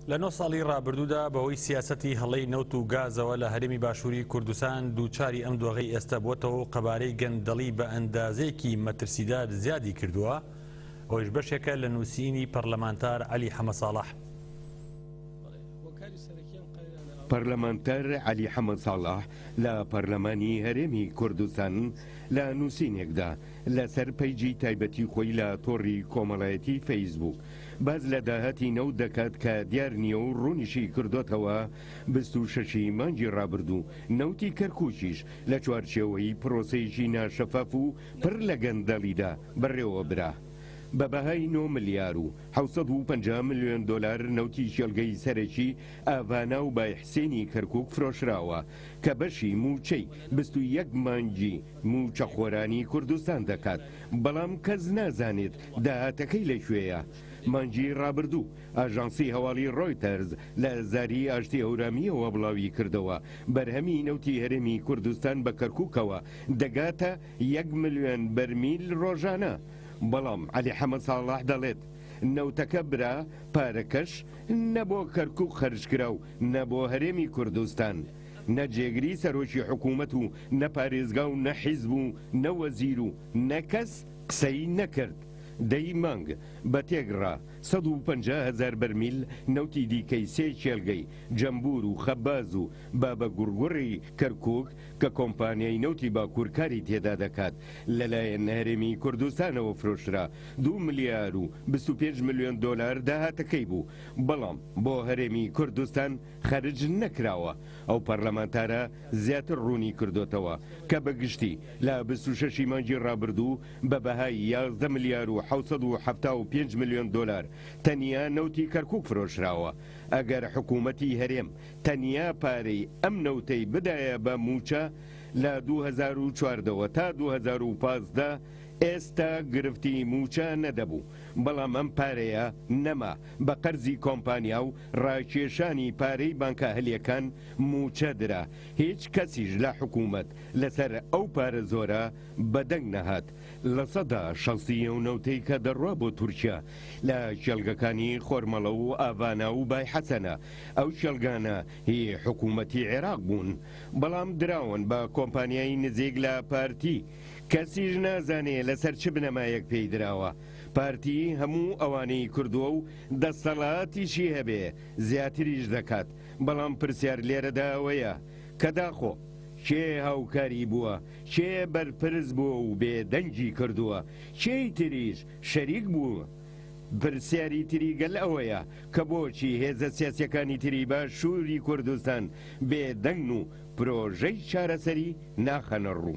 لە نۆ ساڵی ڕابردوودا بەهۆی سیاسەتی هەڵەی نەوت و گازەوە لە هەرێمی باشووری کوردستان دووچاری ئەم دۆغی ئێستە بووەتەوە و قەبارەی گەندەڵی بە ئەندازەیەکی مەترسیدار زیادی کردووە ئەوەش بەشێکە لە نووسینی پەرلەمانتار عەلی حەمە ساڵح پەرلەمانتار عەلی حەمە ساڵح لە پەرلەمانی هەرێمی کوردستان لە نووسینێکدا لەسەر پەیجی تایبەتی خۆی لە تۆڕی کۆمەڵایەتی فەیسبووک باس لە داهاتی نەوت دەکات کە دیار نییە و ڕوونیشی کردۆتەوە، بیست و شەش ی مانگی ڕابردوو نەوتی کەرکووکیش لە چوارچێوەی پرۆسەیەکی ناشەفاف و پڕ لە گەندەڵیدا بەڕێوە برا بە بەهای نۆ ملیار و حەوت سەد و پەنجا ملیۆن دۆلار نەوتی کێڵگەی سەرەکی ئاڤانا و بای حسێنی کەرکووک فرۆشراوە کە بەشی مووچەی بیست و یەک مانگی مووچەخۆرانی کوردستان دەکات بەڵام کەس نازانێت داهاتەکەی لە کوێیە؟ مانگی ڕابردوو، ئاژانسی هەواڵی ڕۆیتەرز لە زاری ئاشتی هەورامییەوە بڵاویکردەوە، بەرهەمی نەوتی هەرێمی کوردستان بە کەرکووکەوە دەگاتە یەک ملیۆن بەرمیل ڕۆژانە، بەڵام عەلی حەمە ساڵح دەڵێت، نەوتەکە برا، پارەکەش نە بۆ کەرکووک خەرجکرا و نە بۆ هەرێمی کوردستان. نە جێگری سەرۆکی حکوومەت و نە پارێزگا و نە حیزب و نە وەزیر و نە کەس، قسەی نەکرد، دەی مانگ بە تێگڕا سەد و پەنجا هەزار بەرمیل نەوتی دیکەی سێ کێلگەی جەمبوور و خەباز و بابە گوڕگوڕی کەرکووک کە کۆمپانیای نەوتی باکوور کاری تێدا دەکات لەلایەن هەرێمی کوردستانەوە فرۆشرا دوو ملیار و بیست و پێنج ملیۆن دۆلار داهاتەکەی بوو بەڵام بۆ هەرێمی کوردستان خەرج نەکراوە، ئەو پەرلەمانتارە زیاتر ڕوونی کردۆتەوە کە بە گشتی لە بیست و شەش ی مانگی ڕابردوو بە بەهای یازدە ملیار و حەوت سەد و حەفتا و پێنج ملیۆن دۆلار تەنیا نەوتی کەرکوک فرۆشراوە ئەگەر حکوومەتی هەرێم تەنیا پارەی ئەم نەوتەی بدایە بە مووچە لە دوو هەزار و چواردە وە تا دوو هەزار و پازدە ئێستا گرفتی مووچە نەدەبوو بەڵام ئەم پارەیە نەما بە قەرزی کۆمپانیا و ڕاکێشانی پارەی بانکاهلیەکان موچە درا هیچ کەسیش لە حکومەت لەسەر ئەو پارە زۆرە بەدەنگ نەهات لە سەدا شەستی ئەو نەوتەی کە دەڕوا بۆ تورکیا لە کێڵگەکانی خۆرمەڵە و ئاڤانا و بای حەسەنە ئەو کێڵگانە هی حکومەتی عێراق بوون بەڵام دراون بە کۆمپانیای نزیک لە پارتی کەسیش نازانێ لەسەر چ بنەمایەک پێی دراوە پارتی هەموو ئەوانەی کردووە و دەستەڵاتیشی هەبێ زیاتریش دەکات، بەڵام پرسیار لێرەدا ئەوەیە کە داخۆ کێ هاوکاری بووە، کێ بەرپرس بووە و بێدەنگی کردووە، کێی تریش شەریک بووە؟ پرسیاری تری گەل ئەوەیە کە بۆچی هێزە سیاسییەکانی تری باشووری کوردستان بێدەنگن و پرۆژەی چارەسەری ناخەنە ڕوو؟